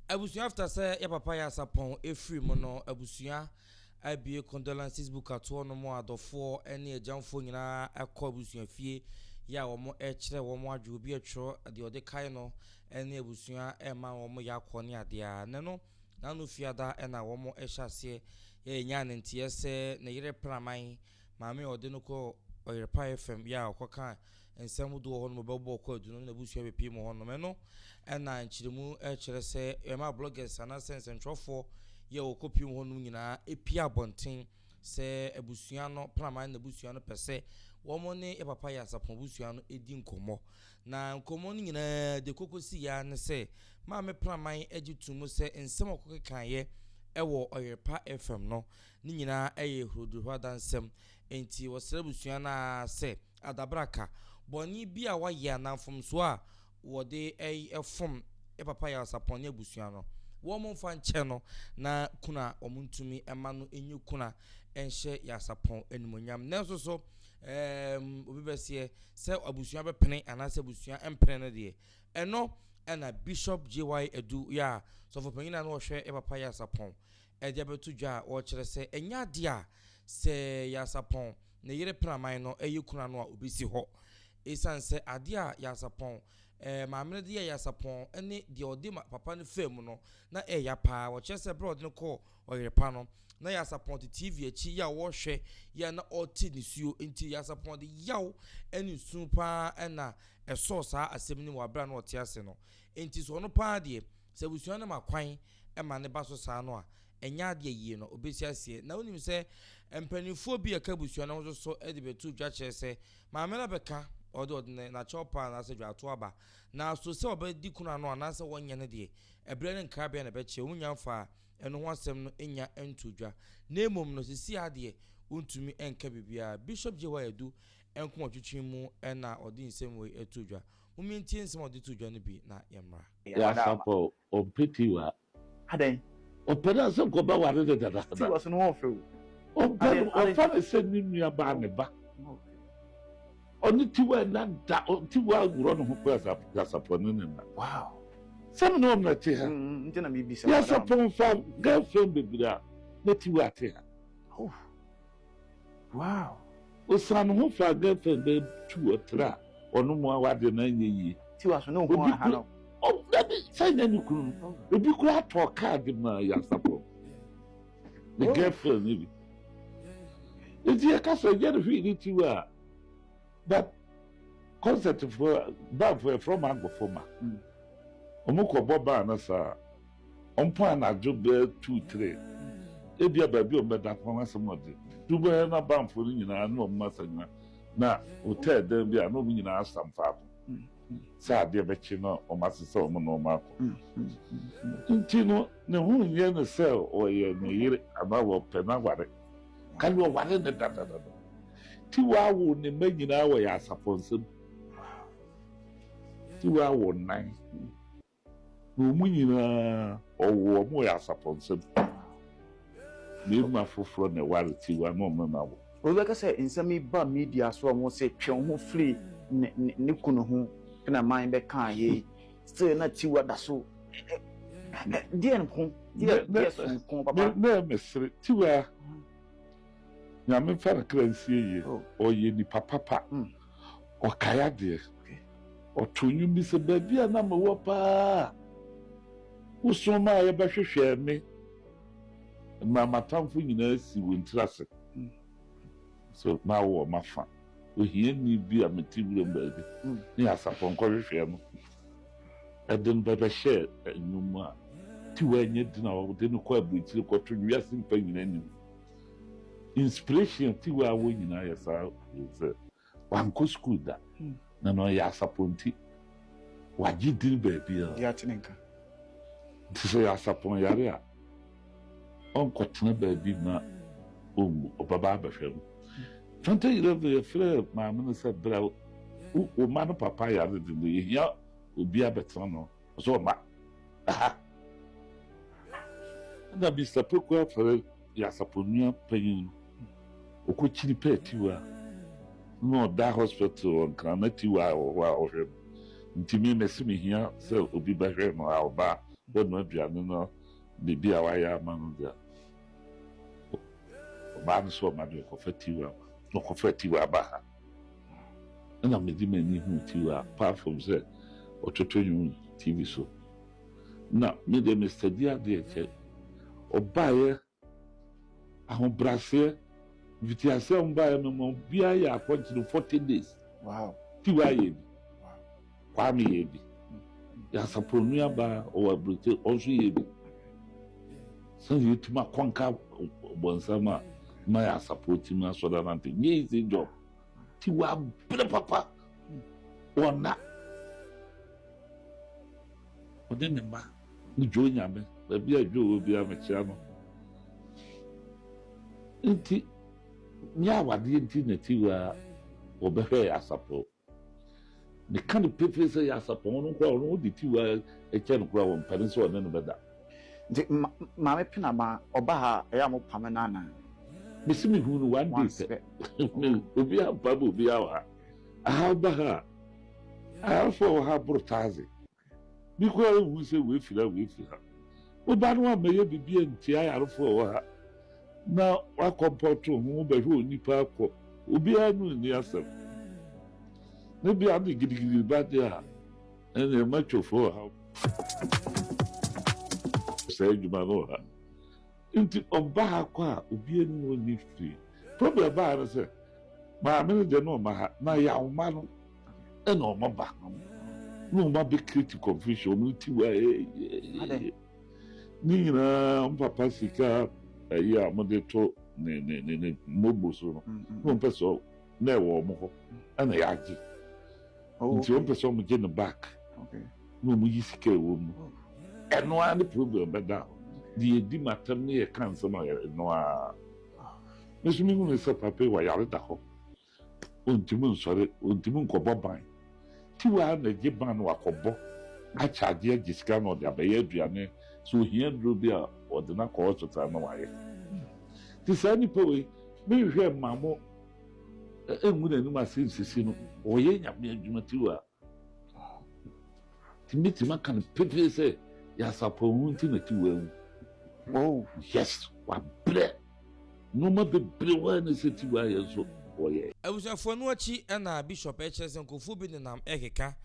Abusua after sɛ yɛ papa yɛ asapɔn ɛfiri mu no abusua abue condolences book atoɔ no mo adɔfoɔ ne agyamfoɔ nyinaa kɔ abusua fie yɛ a wɔn ɛkyerɛ wɔn adwo obi ɛtwerɛ deɛ ɔde kae no ne abusua ɛma wɔn yɛ akɔ ne adeɛ ne no n'ano fiada ɛna wɔn ɛhyɛ aseɛ yɛ ɛnya ne nteɛ sɛ ne yere praman Maame a ɔde no kɔɔ ɔyerpaeɛ fam yɛ a ɔkɔkaa nsɛm hodoɔ wɔ hɔ nom bɛbɔɔ kwaadu no ne n'abusua bɛpie mu hɔ nom. Ɛno na nkyeremu kyerɛ sɛ ɛma bloggers anaasɛ nsɛntwerɛfoɔ yɛ a wɔkɔ pie mu hɔ nom nyinaa pie abɔnten sɛ abusua no, Praman abusua no pɛ sɛ wɔn ne yɛ papa Yɛasapon abusua no di nkɔmmɔ. Na nkɔmmɔ no nyinaa de kɔkɔsi yɛ ara ne sɛ Maame Praman gye to mu sɛ nsɛm a ɔkɔkekaeɛ wɔ ɔyerpa fam no Ne nyinaa yɛ hurudur ho adansɛm. Enti wɔsrɛ abusua no ara sɛ adabraka, bɔne bi a wɔayɛ anaa mfomsoɔ a wɔde fom yɛ papa Yarsapon ne abusua no, wɔmfa nkyɛ no na kunu a wɔntumi mma no nyɛ kunu a ɛnhyɛ Yarsapon animuonyam. Nanso so obi bɛseɛ sɛ abusua bɛpene anaasɛ abusua mpene no deɛ, ɛno na Bishop JY Adu yɛ a sɔfopanyin a na ɔhwɛ yɛ papa Yarsapon Agya bɛto dwa a ɔrekyerɛ sɛ ɛnyɛ adeɛ a sɛ Yasapɔn ne yere praman no yɛ kunu ano a ɔbɛsi hɔ. Ɛsiane sɛ adeɛ a Yasapɔn, eh, maame no de yɛɛ Yasapɔn ne deɛ ɔde ma papa no faa mu no, na ɛyɛ ya paa. Wɔkyerɛ sɛ berɛ a ɔde no kɔɔ ɔyere pa no, na Yasapɔn te TV akyi yɛ a ɔrehwɛ yɛ a na ɔrete nisuo. Enti Yasapɔn de yaw ne nsu paa na ɛsɔɔ saa asɛm no mu wɔ berɛ a na ɔte ase no. Enti sɛ ɔno paa deɛ, Sɛ abusua no ma kwan ma ne ba so saa no a, ɛnyɛ ade a yie na ɔbɛsi aseɛ. Na wonim sɛ mpanimfoɔ bi a ɛka abusua no ho nso so de bɛto dwa kyerɛ sɛ maame no abɛka ɔde ɔde ne n'akyɛw paa anaasɛ dwaato aba. Na so sɛ ɔbɛdi kunu ano anaasɛ wɔnyɛ no deɛ, ɛberɛ ne nkrabea na ɛbɛkyerɛ. Wɔn nyinaa mfaa ɛno ho asɛm no nnya ntoo dwa. Na mmom no, seesei ara deɛ, wontumi nka biribiara. Bishop Jehoiah Adu Nkomatwitwi mu na ɔde nsɛm wei too dwa. Momma yɛntie nsɛm a ɔde too dwa no bi na yɛmmra. Yasapɔ ɔmpɛ Tiwa. Adɛn? Ɔpɛ no ansa nka ɔbɛware no dada. Tiwa so no ho ɔfɛ o. Ɔmpɛ no, ɔfa no sɛ ne nuabaa ne ba. Ɔne Tiwa nna da, Tiwa worɔ ne ho kɔ Yasapɔ ne ne nna. Wow. Sɛ me ne wɔn na te ha. Nti na mebisa. Yasapɔ nfa girlfriend bebree a na Tiwa te ha. Oh. Wow! Ɔsan ne ho faa girlfriend bɛɛ tu ɔtra ɔno mua w'adeɛ no anyɛ yie. Tiwa so ne wo ho a ha no. Oh dabi saa nyɛ ne kunu no ebi koraa tɔɔ car de maa Yansapɔn ne girlfriend no bi. Nti yɛka sɛ ɛnyɛ ne hwee ne Tiwa a. But concert fo band fo yɛfrɛ ɔmo agofo ma ɔmo kɔ bɔ band no saa ɔmo pɔn anadwo bɛyɛ two three ebi a baabi ɔmo bɛda kɔn asɛm ɔde du bɛyɛ na band fo no nyinaa ne ɔmo asa nyina na hotel dan bi a na ɔmo nyinaa asam faako sɛ adeɛ bɛkye na ɔmo ase sɛ ɔmo na ɔmo akɔ nti no ne ho nyɛ ne sɛ ɔyɛ ne yere anaa ɔpɛ n'aware kane ɔware ne dadadada. Tiwa woo ne mma nyinaa wɔ yɛn asafo nsam. Tiwa wɔ nnan. Na wɔn nyinaa ɔwɔ wɔn wɔ yɛn asafo nsam. Mmarima foforɔ na ɛware Tiwa na wɔn na wɔ. Wobɛka sɛ nsɛm yi ba media so a wɔse twe wo ho firi ne kunu ho na man bɛkaa yei. Still na Tiwa da so. Deɛ nko, deɛ so nko papa. Na ɛmesere Tiwa. Nyame mfa ne kra nsie yie. Ɔyɛ nipa papa. Ɔkae adeɛ. Ɔtoo nnwom bi sɛ, Baabi a na mewɔ paa a Wosomaaeɛ bɛhwehwɛɛ me Mmerɛ a m'atamfo nyinaa sii wɔn tiri ase So na wowɔ m'afa Ohiani bi a mete wuram baabi Ne asapɔnkɔ hwehwɛɛ no Ɛde no bɛbɛhyɛɛ nnwom mu a Tiwa nyɛ dina a wɔde no kɔ aburokyire Kɔto wiase mpa nyinaa anim Inspiration fi hɔ a wɔn nyinaa yɛ saa wei sɛ wankɔ sukuu da na na ɔyɛ asapɔnti wagye din baabi a yɛate ne nka nti sɛ yɛ asapɔn yare a ɔnkɔtena baabi ma ɔnwu ɔbɛba abɛhwɛ no 2011 yɛfrɛ maame no sɛ berɛ wo ma no papa yare de no yɛhia obi abɛtena no ɔsɛ ɔba ha na Mr. Poku afɛrɛ yɛ asaponua panyin no ɔkɔ kyiri pɛ tiwa na ɔda hospital wɔ nkran na tiwa a wɔ hɔ a ɔhwɛ no nti me mɛsi me hia sɛ obi bɛhwɛ no a ɔba bɛ no aduane no biribi a wayɛ ama no deɛ ɔbaa no sɛ ɔma no ɔkɔfa tiwa ɔkɔfa tiwa aba ha Ɛna mede m'ani huu TV a paa fam sɛ wɔtoto nnwom yi TV so. Na me deɛ me study adeɛ kyɛ. Ɔbaeɛ, ahobrɛaseɛ, mfitiaseɛ a wɔbaeɛ no ma obiara yɛ akɔnkye no forty days. Wow. TV ayɛ bi. Kwame yɛ bi. Dasapon nuabaa ɔwɔ aburokyi ɔno nso yɛ bi. Sɛnea yɛtumi akɔnka bɔnsam a ma yɛ asapɔ tumi asɔre anante nyɛ easy job. Ti wabere papa ɔna ɔne ne mma ne dwo nyame baabi a dwo wɔ biara mekyea no. Nti nyɛ awadeɛ nti na ti wa wɔbɛhwɛ asapɔ. Meka no pefee sɛ Nyansapɔn no koraa ɔno ɔde tiw a kyɛ no koraa ɔmpɛne sɛ ɔne no bɛda. Nti Maame Pina ma ɔba ha a ɛyɛ a mopame no anaa? Mese mehuu no one day pɛ. Obi ampam obiara wɔ ha. Aha woba ha a, ahafoɔ wɔ ha boro taase. Bi koraa rehu sɛ wei firi ha, wei firi ha. Wo ba no ammɛyɛ biribi antia ayarefo a ɛwɔ ha na woakɔmpɔto ho, wobɛhwɛ onipa akɔ, obiara ne onni asɛm. Ne bea de gidigidi ba de a, ɛne ɛma twofo ɔhaw. Saa adwuma no wɔ ha. Nti ɔbaako a obiara nni hɔ nni fie. Problem baeɛ no sɛ maame no deɛ na ɔma ha na yaw ma no ɛna ɔma ba no na ɔma bɛ create confusion ɔmo ti wa ɛyɛyɛyɛ ne nyinaa ɔmo papa sika ɛyɛ a ɔmo de to ne ne ne ne mɔbo so no na ɔmo pɛ sɛ na ɛwɔ wɔn hɔ ɛna yɛagye oh, nti wɔn pɛ sɛ wɔn gye no back na wɔn yi sika ɛwɔ mu oh. ɛno ara ne problem bɛda hɔ deɛ yɛdi mu atɛm ne yɛka nsɛm a ɛno ara ne so mehu ne sɛ papa yi wɔyare da hɔ ɔntumi nsɔre ɔntumi nkɔbɔ ban ti waa na gye ban no wakɔbɔ akyɛ adeɛ agye sika na ɔde abɛyɛ aduane so ohia duro bi a ɔde no akɔ hospital na wayɛ te saa nipa wei menhwɛ mmaa mo Ɛngu n'anim ase nsisi no, ɔyɛ Nyame adwuma tiwa. Ti mɛtumi aka no pefee sɛ, yɛ asafo ho nti na tiwa awu. Oh yes, wabrɛ. Nnoɔma bebree hɔ a na sɛ tiwa ayɛ nso ɔyɛ. Abusuafoɔ no akyi na Bishop kyerɛ sɛ nkurɔfoɔ bi nenam rekeka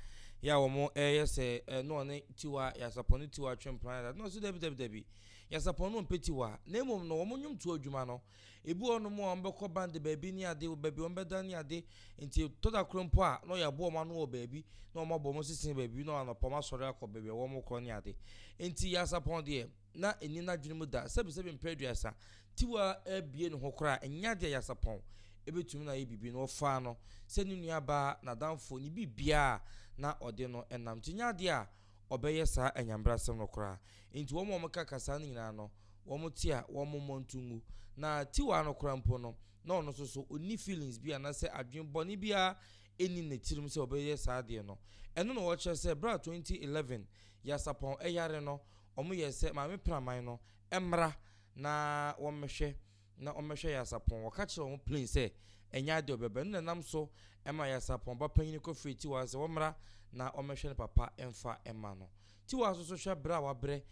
yɛ a wɔyɛ sɛ na ɔne Tiwa, Yasapɔn ne Tiwa twe mpena dada. Na ɔse dabi dabi dabi, Yasapɔn no ɔmpɛ Tiwa, na mmom no wɔn nnwomtoɔ adwuma no Ebi wɔ hɔnom a wɔbɛkɔ ban de baabi ne ade, wɔ baabi wɔbɛda ne ade. Enti ɛtɔ da koro mpo a, na wɔabu wɔn ano wɔ baabi, na wɔabɔ wɔn sesee baabi, na anɔpa wɔasɔre akɔ baabi a wɔrekɔ ne ade. Enti Yasapɔn deɛ, na ɛnni n'adwene mu da. Sɛbesɛbe mpere aduasa, Tiwa abue ne ho koraa a, ɛnyɛ adeɛ a Yasapɔn bɛtumi na ayɛ biribi no, wɔfaa no sɛ ne nuabaa, n'adamfo, ne biribiara a na ɔde no nam. Enti ɛnyɛ adeɛ a. ɔbɛyɛ saa anyamebrasɛm no koraa. Enti wɔn a wɔka ka saa no nyinaa no, wɔte a, wɔmmɔ nto ngu. Na Tiwa no koraa mpo no, na ɔno nso so, onni feelings bi anaasɛ adwene bɔne biara nni ne tirim sɛ ɔbɛyɛ saa adeɛ no. Ɛno na wɔkyerɛ sɛ berɛ a 2011 Yasapɔn ɛyare no, wɔyɛɛ sɛ Maame Praman no mmra na wɔmmɛhwɛ na wɔmmɛhwɛ Yasapɔn. Wɔka kyerɛɛ wɔn plain sɛ ɛnyɛ ade a ɔbɛba. Ɛno na ɛnam so ma Yasapɔn ba panyin kɔ frɛɛ Tiwa sɛ wɔmmra na wɔmmɛhwɛ ne papa mfa mma no. Tiwa nso so hwɛ brɛ a wabrɛ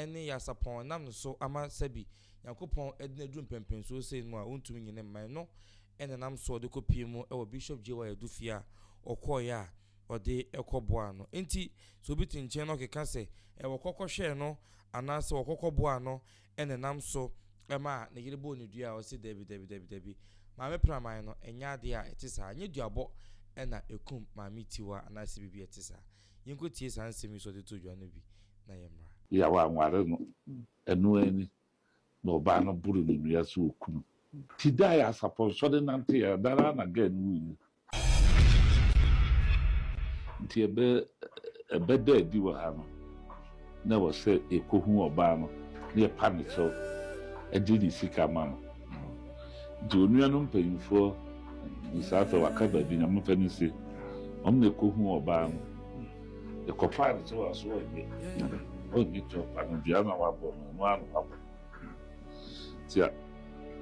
ne Yasapɔn ɛnam ne so ama sɛbi Nyankopɔn de no aduru mpɛnpɛnsuo sei mu a ɔntumi nyi ne mma. Ɛno na ɛnam so ɔde kɔ pie mu wɔ Bishop JY Adu fie a ɔkɔeɛ a ɔde kɔ boaa no. Enti sɛ obi te nkyɛn na ɔkeka sɛ wɔkɔ kɔhwɛɛ no anaasɛ wɔkɔ kɔboaa no Ɛna nam so maa ne yere bɔɔ no dua a ɔse dabi dabi dabi dabi maame praman no ɛnyɛ adeɛ a ɛte saa ɛnyɛ duabɔ ɛna ɛkum maame tiwa anaasɛ biribi a ɛte saa yɛnkɔ tie saa nsɛm yi so ɔde too dwa no bi na yɛmmra. Yea wanware no ɛno ara ni na ɔbaa no boro ne nua sɛ ɔku no ti da a yɛ asapɔnsɔ de nante yɛ ɛda no ara na girl no wuiɛ Nti ɛbɛ ɛbɛda adi wɔ ha no, na ɛwɔ sɛ yɛkɔhu ɔbaa no na yɛpa no kyɛw de ne sika ma no. Nti onua no mpanyimfoɔ ne saa afei waka baabi na momfa no nsie. Wɔn na ɛkɔhu ɔbaa no. Yɛkɔpaa no kyɛw a so ɔnyɛ ɔnyɛ kyɛw pa no dua na wabɔ no ɔno ara na wabɔ. Nti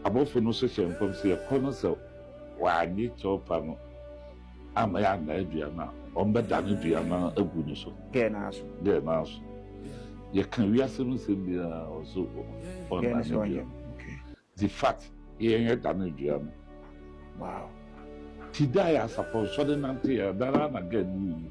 abɔfo no hyehyɛ nkɔm sɛ yɛkɔ no sɛ wannye kyɛwpa no amma yɛannan aduan no a, wɔbɛdan aduan no agu no so. Dɛn no ara so. Dɛn no ara so. Yɛka wiase no nsɛm biara wɔ so ɔnnan aduan. Nti fat yɛn yɛdan aduan no. Wow. Ti da yɛ asafo nsɔre nante yɛ, da no ara na gɛn no wui.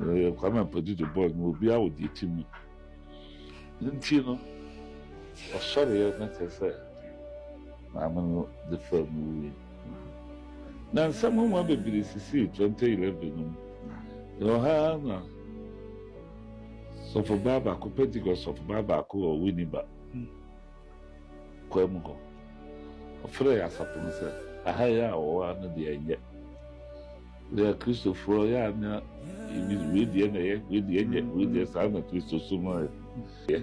Eh, Kwame Ampadu de bɔɔl no obiara wɔ deɛ ti mu ne nti no ɔsɔreɛ na kyerɛ sɛ maame no de faa mu wui na nsɛm ho ma bebree sisii 2011 no mu ɛwɔ ha na sɔfobaa baako pentecost sɔfobaa baako wɔ winiba kwam hɔ ɔfrɛɛ asafo no sɛ aha yɛ a wɔwɔ ano deɛ ɛnyɛ Yɛyɛ Kristofoɔ, yɛ a na ebi wei deɛ na ɛyɛ, wei deɛ nyɛ, wei deɛ saa na Kristosom no yɛ.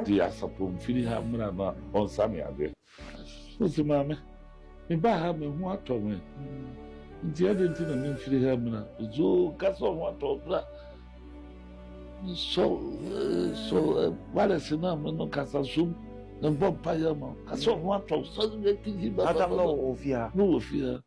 Deɛ asafo mfiri ha mmra no a, ɔnsane adeɛ. Ɔsi maame, mebaa ha me ho atɔ me, nti adɛn nti na memfiri ha mmra? Ɔsi oo, nka sɛ ɔho atɔ wo bra. Sɔ sɔ walɛse no a me no kasa som na mbɔ mpaeɛ ma wo. Ka sɛ ɔho atɔ wo, sɔre bra kigyi ba ba ba. Madam na ɔwɔ fie ha. Na ɔwɔ fie ha.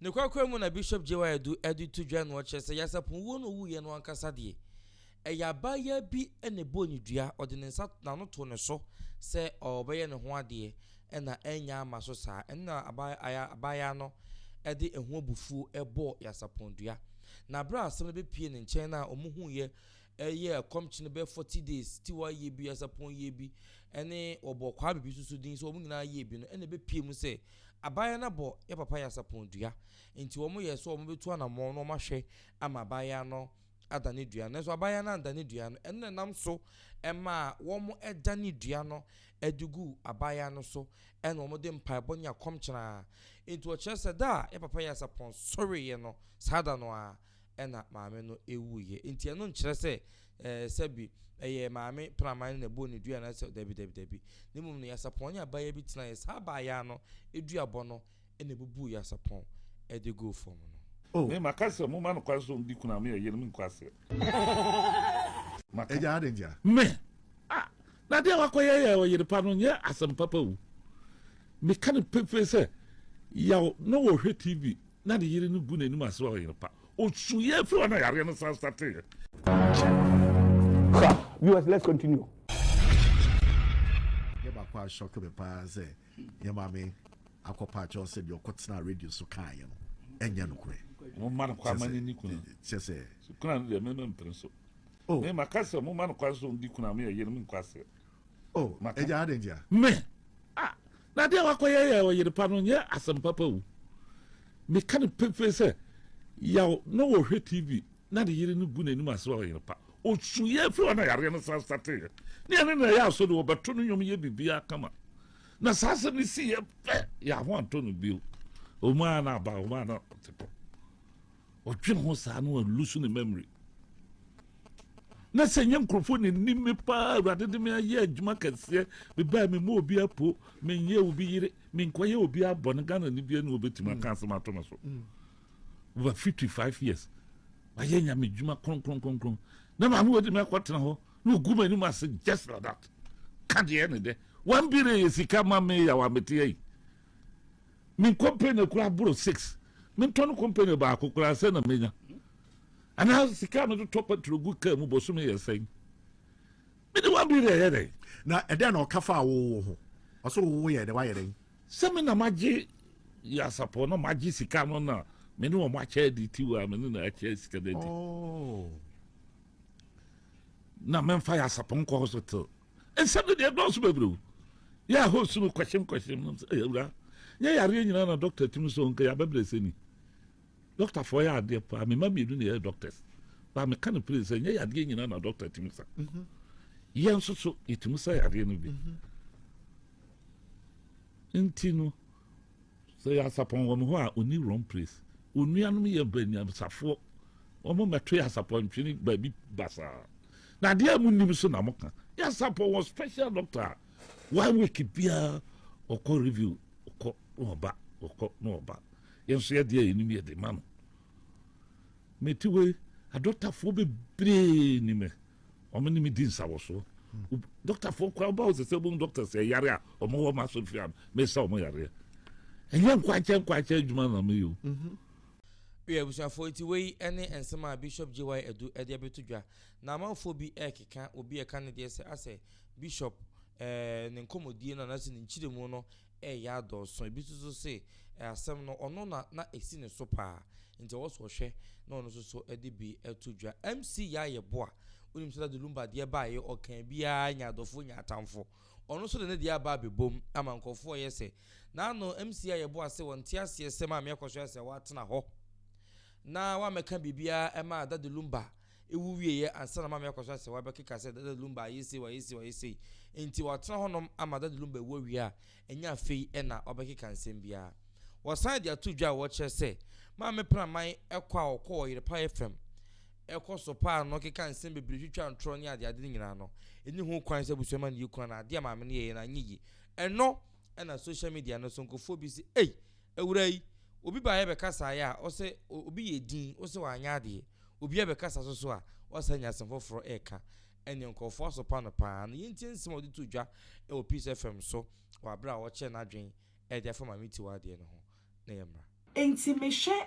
Nokwakora mu na Bishop JY Adu de to dwa na ɔkyerɛ sɛ Yasapon wuo no ɔwuiɛ no ankasa deɛ, ɛyɛ abaayaa bi na ɛbɔɔ ne dua, ɔde ne nsa n'ano too ne so sɛ ɔrebɛyɛ ne ho adeɛ na annya amma so saa. Ɛno na abaayaa no de ɛho abufuo bɔɔ Yasapon dua. Na berɛ a asɛm no bɛpuee ne nkyɛn no a wɔhuiɛ Ɛyɛ a kɔm kye no bɛyɛ forty days ti wɔayɛ bi asapɔn yɛ bi ɛne wɔbɔ kwaa bibi soso din sɛ wɔn nyinaa yɛ bi no ɛna ɛbɛpie mu sɛ abaayewa no abɔ yɛ papa yɛ asapɔn dua nti wɔn yɛ sɛ wɔn bɛtu anamɔn na wɔn ahwɛ ama abaayewa no ada ne dua no nanso abaayewa no anda ne dua no ɛno na ɛnam so ɛmaa wɔn ɛda ne dua no ɛde gu abaayewa no so ɛna wɔn de mpaebɔ ne akɔm kyena nti wɔkyerɛ sɛ da a yɛ papa yɛ asapɔn sɔreeɛ no saa da no a na maame no wuiɛ. Enti ɛno nkyerɛ sɛ ɛɛ sɛbi ɛyɛ maame praman no na ɛbɔɔ ne dua anaasɛ dabi dabi dabi. Ne mmom no Yasapɔn ne abaayewa bi tenaeɛ. Saa abaayewa no duabɔ no na ɛbubuu Yasapɔn de guu fam no. Oh. Me maka sɛ momma no kwan sɛ ɔndi kunu a me ɛyɛ no me nkwasiɛ. Maka. Agya adɛn ntia? Me. Ah! Na deɛ wakɔyɛ yɛ ɔyere pa no nyɛ asɛm papa o. Meka no pefee sɛ yaw na wɔhwɛ TV na ne yere no gu n'anim ase sɛ ɔyere pa. Osuiɛ firi hɔ na yareɛ no san stateeɛ. Sa viewers let's continue. Adeɛ baako a shock me paa sɛ yɛ maame akɔ pa akyɛw sɛ deɛ ɔkɔ tena radio so kaayɛ no ɛnyɛ nokorɛ. Mo mma no kɔ ama ne ni kuna. Kyɛ sɛ. Kuna no deɛ mɛmɛ mpere so. Oh. Mɛmɛ akasɛ mo mma no kɔ nso ndi kuna mɛ yɛ yɛ no mi nkɔ aseɛ. o agya adɛn ntia me ah, na adeɛ a wakɔyɛ yɛ ɔyere pa no nyɛ asɛm papa o meka no pefee sɛ yaw na wɔhwɛ tv na ne yere no gu n'anim ase wɔ ɔyere pa ɔsuiɛ firi ɔna yareɛ no san sateeɛ ne ɛne na ɛyɛ aso de wɔbɛto no nnwom yɛ biribiaa kama na saa asɛm no siiɛ pɛ yɛ aho antɔ no bio ɔmaa no aba ɔmaa no tepɔ Ɔdwen ho saa na walusu ne memory. Na sɛ nyɛ nkurɔfoɔ na ɛnim me paa awurade de me ayɛ adwuma kɛseɛ mebaa me mmɔ obi apo menyɛ obi yere menkɔyɛ obi abɔ no ghana ne bia ne wɔbɛtumi aka asɛm ato me so mm. over 55 years wayɛ nyame dwuma kronkronkronkron na maame wɔde me akɔtena hɔ na ɔgu m'anim ase just like that ka deɛ ne dɛ wambire yɛ sika ma me yɛ wa meteɛ yi Me company koraa boro six mentɔ no company baako koraa sɛ na menya anaa sika a mede tɔ patro gu kaa mu bosome yɛ sɛn mede one billion yɛ dɛn na ɛdɛn na ɔka fa awowo ho ɔsɛ wowo yɛ dɛ wayɛ dɛn sɛ me na magye yasapɔ na magye sika no na me ne wɔn akyɛ adi ti wɔ a me ne na akyɛ sika no adi oh. na memfa yasapɔ nkɔ hospital nsɛm no deɛ dɔɔso bebree o yɛ a host no kwɛhyem kwɛhyem nam sɛ ɛyɛ awura nyɛ yareɛ nyinaa na dɔkta tumi so nka yɛabɛbrɛ sɛ ni dɔktafoɔ yɛ adeɛ paa mema mmienu na yɛyɛ dɔctors baa meka no pere sɛ nyɛ yadeɛ nyinaa na dɔkta tumi sa mhm. yɛn nso so yɛtumi sa yadeɛ no bi mhm. nti no Sɛ yɛ asapɔn wɔ mo hɔ a onni wrong place. Wo nuanom yɛ banyansafoɔ. Wɔn mɛto yɛ asapɔn ntwene baabi basaa. Na adeɛ a mo nnim so na mo ka. Yɛ asapɔn wɔ special doctor a one week biara ɔkɔ review ɔkɔ na ɔba ɔkɔ na ɔba. Yɛn nso yɛ adeɛ a yɛnim yɛ de ma no. Metiwe adɔtafoɔ bebree nim me. Wɔn ne me di nsawɔso. Dɔktafoɔ koraa ba hɔ sɛ sɛ wɔn dɔkta sɛ yare a wɔn wɔ wɔn asɔfie a mesa wɔn yareɛ. Ɛnyɛ nkwakyɛ nkwakyɛ adwuma na meyɛ o. Mhm. Yɛ abusuafoɔ nti wei ne nsɛm a Bishop JY Adu de abɛto dwa. Na amanfoɔ bi rekeka obi a ɛka ne deɛ sɛ asɛ Bishop eh, ne nkɔmmɔdie no anaasɛ ne nkyerɛmu no reyɛ adɔɔso. Ebi nso so se asɛm no ɔno na na esi ne so paa nti ɛwɔ so ɔhwɛ na ɔno nso so de bi to dwa. MC Yaye Boa, wonim sɛ na de Lumba deɛ baeɛ ɔka biara nya adɔfoɔ nya atamfo. Ɔno nso de ne deɛ aba abɛbom ama nkurɔfoɔ reyɛ sɛ n'ano. MC Yaye Boa se wɔnte aseɛ sɛ Maame akɔsoɛ asɛ watena hɔ na wammɛka biribiara mmaa Daddy Lumba. Ewu wieeɛ ansa na Maame akɔ so asɛ hɔ abɛkeka sɛ Dada Lumba ayɛ sei, wayɛ sei, wayɛ sei. Enti watena hɔnom ama Dada Lumba awu awie a, ɛnyɛ afei na ɔbɛkeka nsɛm biara. Wɔsan de ato dwa a wɔkyerɛ sɛ Maame Praman kɔ a ɔkɔ wɔ Yerepaeɛ fam kɔ so paa no keka nsɛm bebree twitwa ntorɔ ne adeade no nyinaa no, ɛnni ho kwan sɛ abusua ma no yɛ kunu anaa adeɛ a Maame no yɛeɛ no anyɛ yie. Ɛno na social media no so nkurɔfoɔ bi se ei! Awura yi, obi baeɛ bɛkasaeɛ a, ɔsɛ obi yɛ din, ɔsɛ wanyɛ adeɛ. Obiara bɛkasa so so a, ɔsɛ anya asɛm foforɔ reka. Ɛnneɛ nkurɔfoɔ asopa no pa ara. Na yɛntie nsɛm a ɔde too dwa wɔ Peace FM so wɔ berɛ a ɔkyerɛ n'adwene de afa Maame Tiwa deɛ no ho na yɛmmra. Enti mehwɛ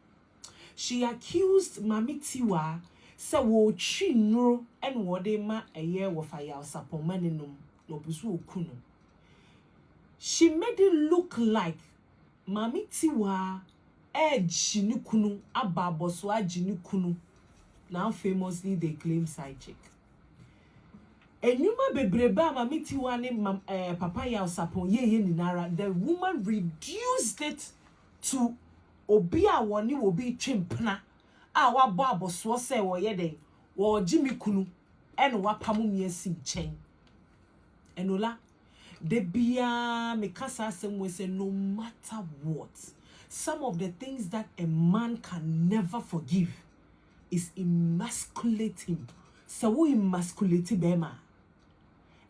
She accused Maame Tiwa sɛ wɔretwi nnuro na wɔde rema ɛyɛ wɔfa yawsapɔn ma no nom na ɔpɛ sɛ ɔku no. She made it look like Maame Tiwa regye ne kunu aba abɔso agye ne kunu now famously they claim side chick. Nnwuma bebrebe a Maame Tiwa ne Papa Yawsapɔn yɛeɛ nyinara the woman reduced it to Obi a wɔne obi retwe mpena a wabɔ abɔsoɔ sɛ ɔreyɛ dɛn? Ɔregye me kunu na wapamo me asi nkyɛn. Enola, Da biara meka saa asɛm wei sɛ no matter what, some of the things that a man can never forgive is emasculate him. Sɛ wo emasculate barima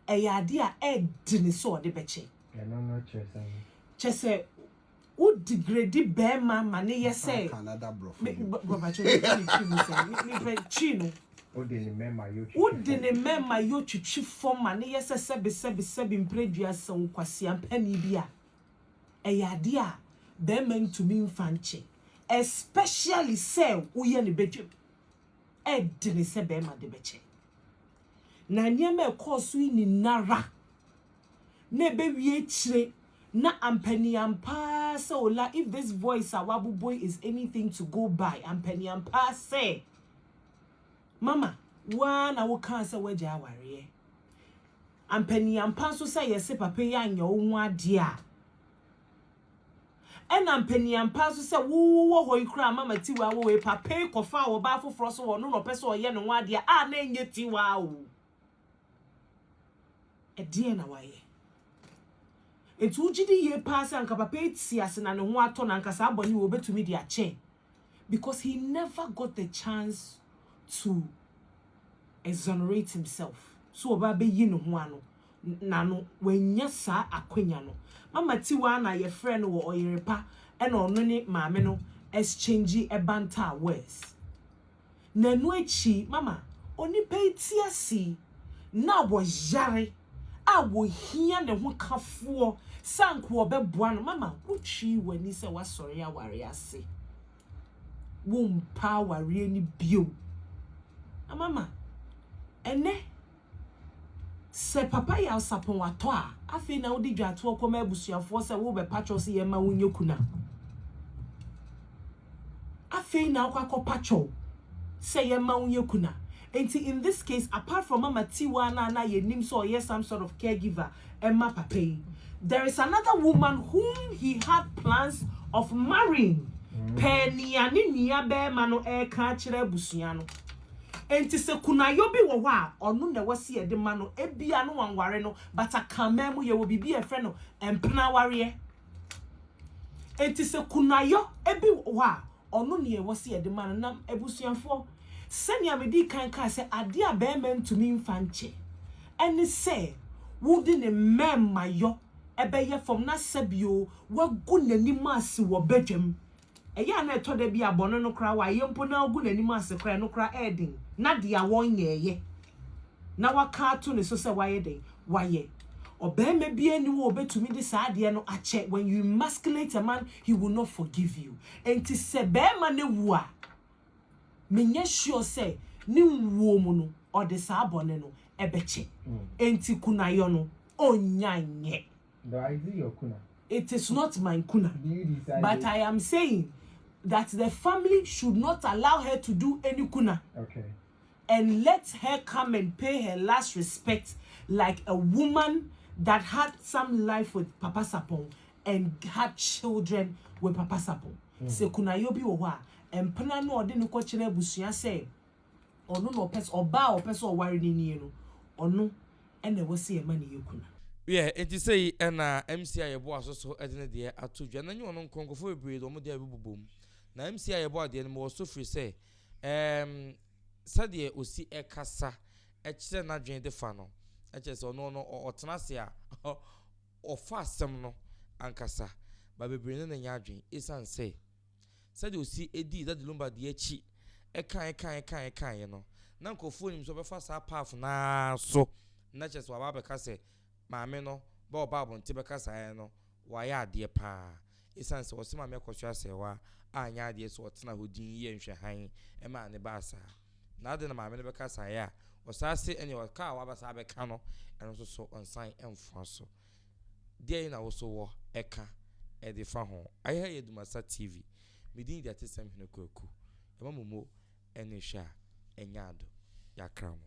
a, ɛyɛ adeɛ a ɛɛde ne sɛ ɔde bɛkyɛ. Ɛno no kyerɛ sɛn? Kyerɛ sɛ Wo degrade bɛɛma ma ne yɛ sɛ. Asanka na da brɔfo dwom. Me bro pakyɛ me nfa me twi mu sɛm me me pɛ twi no. Wo de ne mɛma yɔ twitwi fɔm. Wo de ne mɛma yɔ twitwi fɔm ma ne yɛ sɛ sɛbi sɛbi sɛbi mpredua sɛ wo kwasia panin bi a ɛyɛ adeɛ a bɛɛma ntumi nfa nkyɛ especially sɛ wo yɛ ne bɛdwam ɛdene sɛ bɛɛma de bɛkyɛ na nneɛma ɛkɔɔ so yi nyinara. Na ɛbɛwie akyire na ampaniampaa sɛ ola if this voice a waboboi is anything to go by ampaniampaa sɛ mama wo ara na wokaa sɛ woagya awareɛ ampaniampaa nso sɛ yɛse papa yi anyɛ wo ho adeɛ a ɛna ampaniampaa nso sɛ wowɔ hɔ yi koraa mama tiwaa wɔ wei papa yi kɔfaa ɔbaa foforɔ so wɔ no na ɔpɛ sɛ ɔyɛ ne ho adeɛ a na ɛnyɛ tiwaa o Ɛdeɛn na wayɛ? Enti wogye di yie paa sɛ anka papa yi te ase na ne ho atɔ no, anka saa bɔne wei ɔbɛtumi de akyɛ? Because he never got the chance to exonerate himself, sɛ ɔbɛ abɛyi ne ho ano na no, wannya saa akwanya no. Mama Tiwa a na yɛfrɛ no wɔ Ɔyerepa na ɔno ne maame no exchangee banter words. na ɛno akyi mama onipa yi te ase yi, na wɔyare a wɔhia ne ho kafoɔ sɛ anka wɔbɛboa no, mama wotwii w'ani sɛ woasɔre awareɛ ase. Wompɛ awareɛ no bio. Na mama, ɛnɛ. Sɛ papa Nyansapɔn atɔ a, afei na wode dwatoɔ kɔma abusuafoɔ sɛ worebɛpa kyɛw sɛ yɛmma wo nyɛ kuna. Afei na wokɔ akɔpa kyɛw sɛ yɛmma wo nyɛ kuna. Enti in this case, apart from Mama Tiwa no a na yɛnim sɛ ɔyɛ some sort of caregiver ma papa yi, there is another woman whom he had plans of marrying per nea ne nuabarima no reka akyerɛ abusua no. Enti sɛ kunayɔ bi wɔ hɔ a, ɔno na ɛwɔ sɛ yɛde ma no, ebia na wanware no, but Akanman mu yɛwɔ biribi a yɛfrɛ no mpena awareɛ. Enti sɛ kunayɔ bi wɔ hɔ a, ɔno na ɛwɔ sɛ yɛde ma no. Na abusuafoɔ, sɛnea medii kan kaa sɛ adeɛ a barima ntumi mfa nkyɛ ne sɛ wode ne mmarimayɔ bɛyɛ fam na sɛbi o, wagu n'anim ase wɔ badwam. Ɛyɛ a na ɛtɔ da bi a bɔne no koraa wayɛ mpo na agu n'anim ase koraa a, ɛno koraa ɛyɛ den. Ná deɛ wɔnyɛeɛ na wɔaka ato ne so sɛ wayɛ dɛn? Wayɛ. Ɔbarima biara nni hɔ a ɔbɛtumi de saa adeɛ no akyɛ. When you emasculate a man, he will not forgive you. Enti sɛ barima no wu a, menyɛ sure sɛ ne wuo mu no, ɔde saa bɔne no bɛkyɛ. Enti kunayɔ no, ɔnnya nyɛ. But is it your kuna? It is not my kuna. Do you decide But it? I am saying that the family should not allow her to do any kuna. Okay. And let her come and pay her last respect like a woman that had some life with Papa Sapon and had children with Papa Sapon. Mm. Se kuna yobi wɔ hɔ a, mpena no ɔde no kɔkyerɛ abusua sɛ Ɔno na ɔpɛ sɛ, ɔbaa a ɔpɛ sɛ ɔware no nie no, ɔno na ɛwɔ sɛ yɛma no yɛ kunu. Wiɛ, enti sei na MC a yɛboa so so de ne deɛ ato dwa. Na nyɛ ɔno nko, nkurɔfoɔ bebree de wɔn deɛ bɛbobom. Na MC a yɛboa deɛ no, mewɔ so firi sɛ, ɛɛm, sɛdeɛ ɔsi kasa kyerɛ n'adwene de fa no, kyerɛ sɛ ɔno no, ɔtena ase a, ɔfa asɛm no ankasa. Ba bebree ne no nyɛ adwene, ɛsiane sɛ. Sɛdeɛ ɔsi dii Daddy Lumba deɛ akyi kan kan kan kan yɛ no, na nkorɔfoɔ nnim sɛ ɔbɛfa saa path no ara so na kyerɛ sɛ waba abɛka sɛ maame no bɛ ɔba abɔnten bɛka saa yɛ no wayɛ adeɛ paa. Ɛsiane sɛ ɔse maame akɔhwɛ asɛewa a anyɛ adeɛ so ɔtena hɔ dinn yɛɛ nhwɛhan maa ne baa saa. Na adɛn na maame no bɛka saa yɛ a ɔsan se ɛneɛ ɔka a waba saa abɛka no ɛno nso so ɔnsan mfoa so. Deɛn na wo nso wɔ ɛka ɛde fa ho? Ayɛha yɛ Dumasa TV. Me din de Atesɛm Hene Kwaku. Yɛma mo mo ɛne hwɛ a ɛnyɛ ado. Yɛakra mo.